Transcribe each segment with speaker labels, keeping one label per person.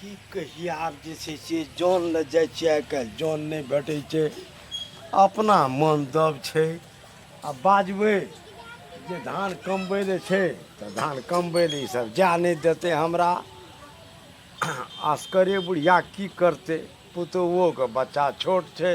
Speaker 1: की कही आब जे छै से जन लए जाइ छियै आइ काल्हि जन नहि भेटै छै अपना मन दब छै आ बाजबै जे धान कमबै लए छै तऽ धान कमबै लए ईसभ जा नहि देतै हमरा असकरे बुढ़िया की करतै पुतोहुओके बच्चा छोट छै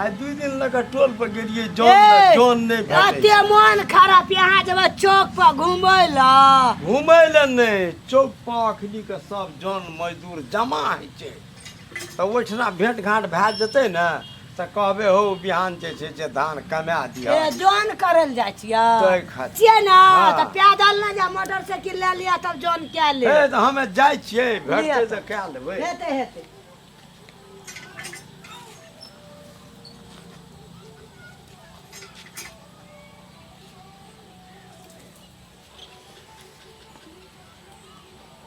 Speaker 1: आ दू दिन लगा टोल पर गेलिए जॉन ए, जॉन नहीं भेटै अते मन खराब यहाँ जब चौक पर घूमे ला घूमे ले नहीं चौक पर अखनी के सब जॉन मजदूर जमा है छै तऽ ओहिठिना भेंट घाट भए जेतै ने तऽ कहबे हो बिहान जे छै से धान कमा दिया ए जॉन करल जाइ छियै तै खातिर। छियै ने हाँ। तऽ पैदल ना जा मोटरसाइकिल ले लिया तब जॉन कए ले हे तऽ हमे जाइ छियै भेटतै लिअ। तऽ कए लेबै हेतै हेतै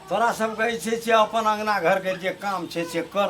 Speaker 1: तोरा सबके जे छै से अपन अङ्गना घरके जे काम छै से कर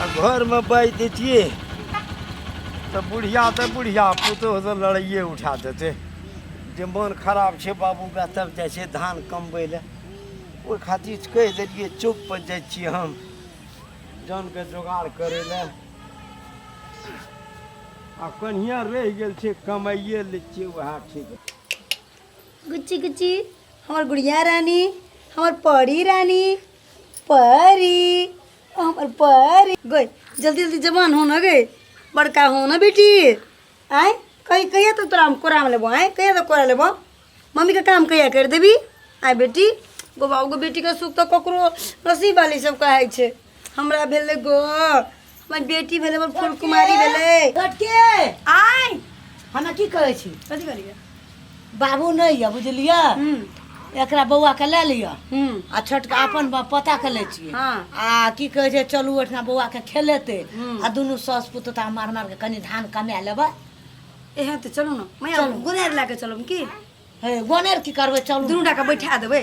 Speaker 1: आ घरमे बाजि दै छियै तऽ बुढ़िया तऽ बुढ़िया पुतोह तऽ लड़ाइए उठा देतै जे मोन खराब छै बाबूके तब जाइ छै धान कमबै लए ओहि खातिर कहि देलियै चौकपर जाइ छियै हम जानके जोगाड़ करै लए आ कनिया रहि गेल छै कमाइए लै छियै उएह ठीक गुच्ची गुच्ची हमर गुड़िया रानी हमर परी रानी परी हमर परी गई जल्दी जल्दी जवान हो ना गई बड़का हो ना बेटी आय कहीं कहिया तो तोरा हम कोरा में लेबो आय कहिया तो कोरा लेबो मम्मी का काम कहिया कर देबी आय बेटी गो बाबू गो बेटी के सुख तो ककरो नसीब वाली सब कहे छे हमरा भेले गो हमर बेटी भेले हमर फूल कुमारी भेले लटके आय हमरा की कहै छी कथी करिया बाबू नहि यऽ बुझलियै हूँ एकरा बौआ के लए लिअ हूँ आ छोटका अपन ब- पता के लै छियै हाँ। आ की कहै छै चलू ओहिठिना बौआ के खेलेतै हूँ। आ दुनू सास पुतोता मार मार के कनि धान कमा लेबै एहे तऽ चलू ने मैया चलू। गुनेर लए कऽ चलू की हे गोनेर की करबै चलू दुनू टा के बैठा देबै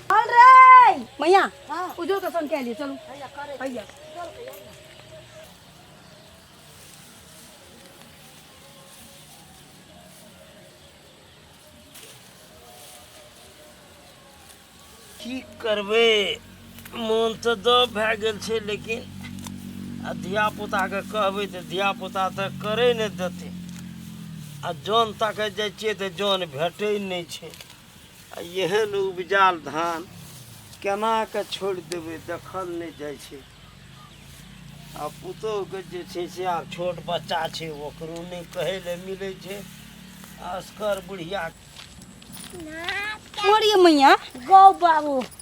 Speaker 1: चल रे मैया हाँ। उजो के संग के लिए चलू भैया करे भैया की करबै मोन तऽ दब भए गेल छै लेकिन आ धियापुताके कहबै तऽ धियापुता तऽ करै नहि देतै आ जन ताकय जाइ छियै तऽ जन भेटै नहि छै आ एहन उपजाल धान केना कऽ छोड़ि देबै देखल नहि जाइ छै आ पुतोहके जे छै से आब छोट बच्चा छै ओकरो नहि कहै लए मिलै छै असगर बुढ़िया मोरिये मैया गौ बाबू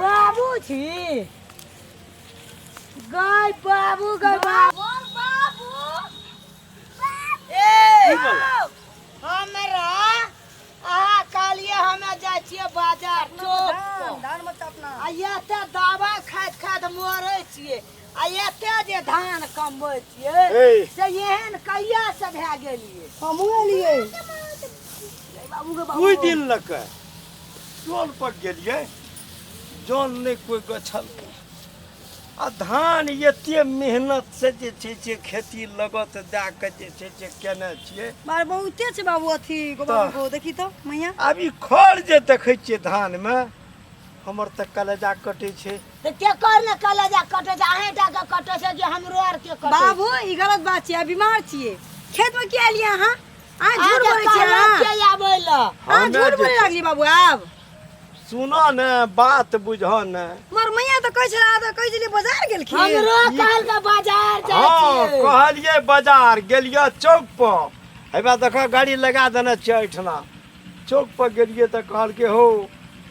Speaker 1: बाबूजी गाय बाबू गाय बाबू ए हमरा अहाँ कहलिए हमे जाइ छियै बाजार चौक पर। धान मत अपना आ एते दवा खाइत खाइत मरे छियै आ एते जे धान कमबै छियै ए। से एहन कहिया से भए गेलियै हमहूँ एलियै बाबू गे बाबू कोई दिन लग चल पर गेलिए जल नहीं कोई गछल आ धान एते मेहनत से जे छै से खेती लगत दए के जे छै से केने छियै मार बहुते छै बाबू अथी गो बाबू गो देखी तो मैया आब ई खर जे देखै छियै धान में हमर तऽ कलेजा कटै छै तऽ के कर ने कलेजा कटै छै अहें टा के कटै छै जे हमरो आर के कटै बाबू ई गलत बात छै आ बीमार छियै खेत में किया एलियै अहाँ आ झूठ बोलै छियै अहाँ के आबै ल अहाँ हम झूठ बोलै लागली बाबू आब सुनो ने बात बुझह ने मर मैया तऽ कहै छला तऽ कहै छली बाजार गेलखिन हमरो कहल के बाजार जाय हाँ छी कहलिए बाजार गेलिए चौक पर हेबा देखो गाड़ी लगा देने छियै एहिठिना चौक पर गेलिए तऽ कहलकै हो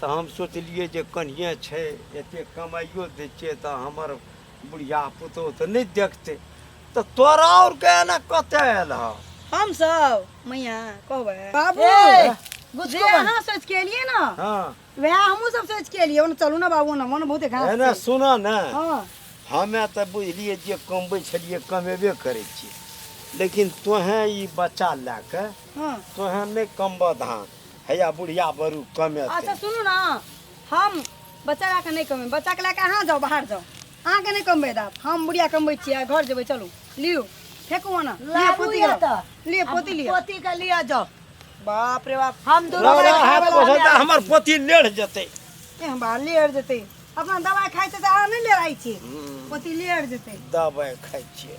Speaker 1: तऽ हम सोचलियै जे कनिए छै एतेक कमाइयो दै छियै तऽ हमर बुढ़िया पुतोह तऽ नहि देखतै तऽ तोरा और के एना कतऽ आयल हँ हम सब मैया कहबै बाबू जे अहाँ सोच के एलियै ना हाँ वएह हमहूँ सब सोच के एलियै ओने चलू ना बाबू ना मन बहुते घास एना छै। सुना ने हाँ हमे तऽ बुझलियै जे कमबै छलियै कमेबे करै छियै लेकिन तोहें ई बच्चा लए कऽ हाँ तोहें नहि कमबऽ धान हैया बुढ़िया बरू कमे अच्छा सुनू ने हम बच्चा लए कऽ नहि कमेबै बच्चाके लए कऽ अहाँ जाउ बाहर जाउ अहाँके नहि कमबै देब हम बुढ़िया कमबै छियै घर जेबै चलू लियौ फेकू ओना लिअ लाबू पोती या लिअ। तऽ। लिअ पोती लिअ पोती के लिया जाओ बाप रे बाप हम दोनों रौरा भाई हाथ खाए वाला पोछल तऽ आदमी। हमर पोती लेढ़ जेतै ए, हम बाहर लेर जेतै अपना दवाइ खाइ छै तऽ अहाँ नहि लेराइ छी पोती लेर जेतै दबाइ खाइ छियै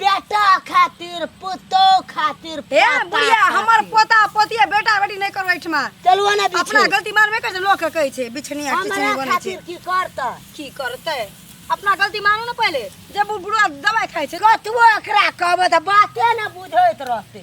Speaker 1: बेटा खातिर पुतोह खातिर हे पोता बुढ़िया खातिर। हमर पोता पोतिया बेटा बेटी नहीं करो एठमा चलुआ ना अपना बिछू गलती मानबे कर लोग के कहै छै बिछनिया किछ हमरा नहीं बनै छै खातिर की करता की करतै अपना गलती मानू ने पहिले जब ओ बुढ़वा दवाई खाइ छै कतबो एकरा कहबै तऽ बाते ने बुझैत रहतै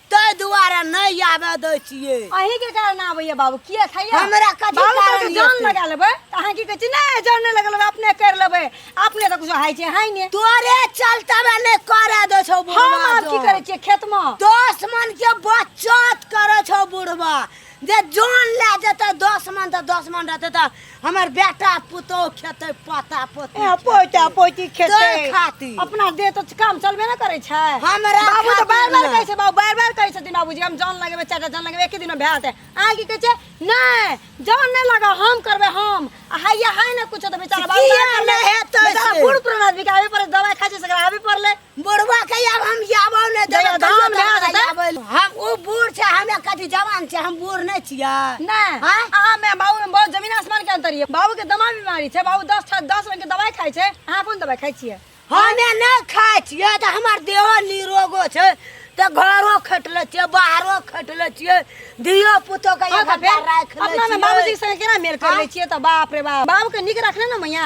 Speaker 1: ताहि दुआरे नहि आबे दै छियै अहीं के कारण आबैया बाबू किया खाइया हमरा कथी बाबू कहलकै कारण जान एतै? लगा लेबै तऽ अहाँ की कहै छी नहि जान नहि लगा लेबै अपने कर लेबै अपने तऽ कुछ हाइ छै हाइ ने तोरे चलतबे नहि करे दै छौ हम बुढ़वा आब की जौन। करै छियै खेत मे दस मन के बचत करे छौ बुढ़वा जे जान ले जेतै दस मन तऽ दस मन रहतै तऽ हमर बेटा पुतोह खेतै पोता पोती ए, पोता पोती तोर खेतै खातिर अपना देह तो काम चलबे ना करे छै हमरा बाबू तो खातिर बार बार ना। कहै छै बाबू बार बार कहै छथिन बाबूजी हम जान लगेबै चाचा जान लगेबै एके दिनमे भए जेतै अहाँ की कहै छै नहि जान नहि लगा हम करबै हम आ हैया है ना कुछो तऽ बेचारा बाबू किया बाबू नहि हेतै बेचारा से? बूढ़ पुरान आदमी के आबे पड़ै दवाइ खाइ छै से आबे पड़लै बुढ़वा के अब हम जाबो ने देबो जहिया कहियो धाम तोरा भए जेतै। जाबो। हम ओ बूढ़ छै हमे कथी जवान छै हम बूढ़ नहि छियै नहीं हाँ? अहाँ में बाबू में बहुत जमीन आसमान के अंतर ये बाबू के दमा बीमारी छै बाबू दस ठा- दस रंग के दवाई खाई छै अहाँ कोन दवाई खाई छियै हमे नहि खाइ छियै तऽ हमर देहो निरोगो छै तऽ घरो खटि लै छियै बाहरो खटि लै छियै धियो पुतो के हाँ एक तऽ फेर घंटा राखि लै अपना में छियै बाबूजी के संग केना मेल कर हाँ? ले छियै तऽ बाप रे बाप बाबू के निक रखने ना मैया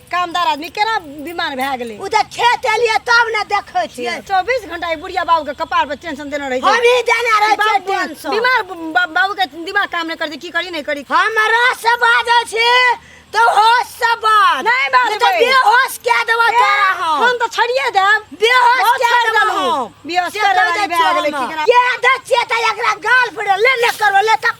Speaker 1: कामदार आदमी केना बीमार भए गेलै ओ तऽ खेत एलियै तब ने देखै छियै चौबीस घंटा ई बुढ़िया बाबू के कपार पर टेंशन देने रही हम ही देने रहे छियै टेंशन बीमार बाबू के दिमाग काम नहीं करते की करी नहीं करी हम रस से बाजै छी तो होश से बाज नहीं बाज तो बेहोश के देबो तोरा हम हम तो छड़िए देब बेहोश के देबो हम बेहोश के देबो के दे छियै त एकरा गाल फड़े ले ले करबो ले तक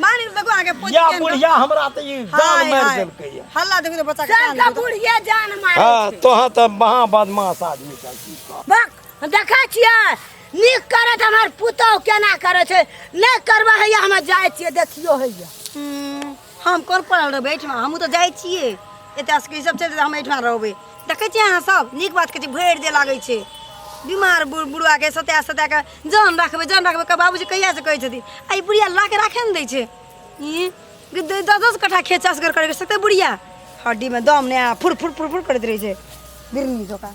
Speaker 1: मानी तो को आगे पोजी या के बुढ़िया हमरा त ई जान हाय, मार हाय। देलकै या हल्ला देखो तो बच्चा के कान सबका देखो। बुढ़िया जान मारे हां छै। तोहा त महा बदमाश आदमी का की कह। बक हम देखै छियै नीक करत हमर पुतौह केना करै छै नहि करबै हैया हम जाइ छियै देखियो हैया हम्म, हम कोन पढ़ल रहबै एहिठमा हमहूँ तऽ जाइ छियै एतऽ से सब चलि जेतै हम एहिठमा रहबै देखै छियै अहाँ सब नीक बात कहै छै भरि दे लागै छै बीमार बुढ़ बुढ़ाके सता सता कऽ जान राखबै जान राखबै का बाबूजी कहिया से कहै छथिन आ ई बुढ़िया ला के राखे ने दै छै ई कि द- दस दस कट्ठा खेत चास कर करके सकते बुढ़िया हड्डी में दम ने आ फुर फुर फुर फुर करैत रहै छै बिरनी जकाँ